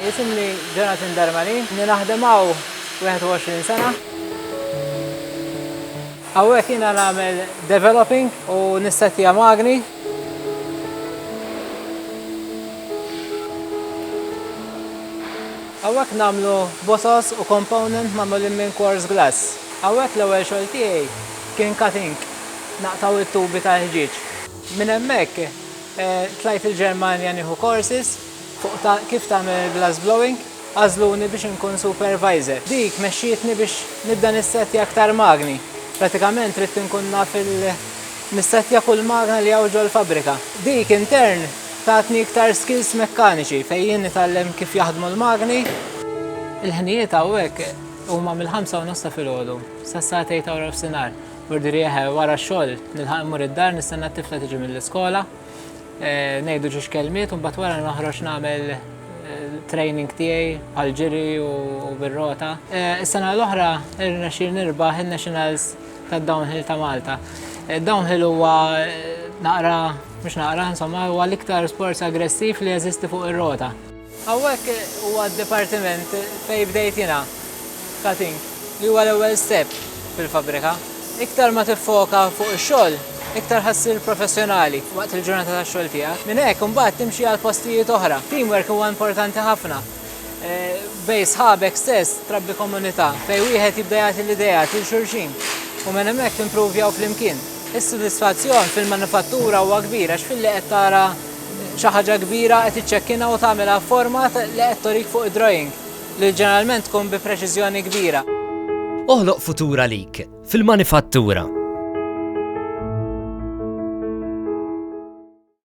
Jisimni Jonathan Darmani, naħdem hawn 21 sena. Hawnhekk jiena nagħmel developing u nissettija magni. Hawnhekk nagħmlu bosos u component magħmulin minn coarse glass. Hawnhekk l-ewwel xogħol tiegħi kien cutting, naqtgħu it-tubi tal-ħġieġ. Minn hemmhekk tlajt il-Ġermanja nieħu courses fuq kif tagħmel il-glass blowing, għażluni biex inkun supervisor. Dik mexxietni biex nibda nissettja aktar magni, pratikament ridt inkun naf nissettja kull magna li hawn ġol-fabbrika. Dik in turn Tatni iktar skills mekkaniċi fejn jien nitgħallem kif jaħdmu l-magni. Il-ħnijiet hawnhekk huma mill-ħamsa u nofs ta' filgħodu sa sagħtej ta' wrafsinhar. Burdiri eħe wara x-xogħol nilħaq immur id-dar nistenna t-tifla tiġi mill-iskola, eh, ngħidu ġiex kelmiet u mbagħad wara noħroġ nagħmel eh, training tiegħi bħal ġiri u bir-rota. Eh, is-sena l-oħra irnexxi nirbaħ in-nationals tad-downhill ta' Malta. Downhill huwa naqra, mhux naqra, insomma, huwa l-iktar sport aggressiv li jeżisti fuq ir-rota. Hawnhekk huwa d-dipartiment fejn bdejt jiena, cutting, li huwa l-ewwel step fil-fabbrika. Iktar ma tiffoka fuq ix-xogħol, iktar ħa ssir professjonali waqt il-ġurnata tax-xogħol tiegħek. Minn hekk imbagħad timxi għal postijiet oħra. Teamwork huwa importanti ħafna. Eh, bej sħabek stess trabbi komunità fej wieħed jibda jagħti l-idea til xulxin u minn hemmhekk timpruvjaw flimkien. Is-sodisfazzjon fil-manifattura huwa kbira għax filli qed tara xi ħaġa kbira qed iċċekkina u tagħmilha format li qed torik fuq id-drawing li ġeneralment tkun bi preċiżjoni kbira. Oħloq futura lik fil-manifattura.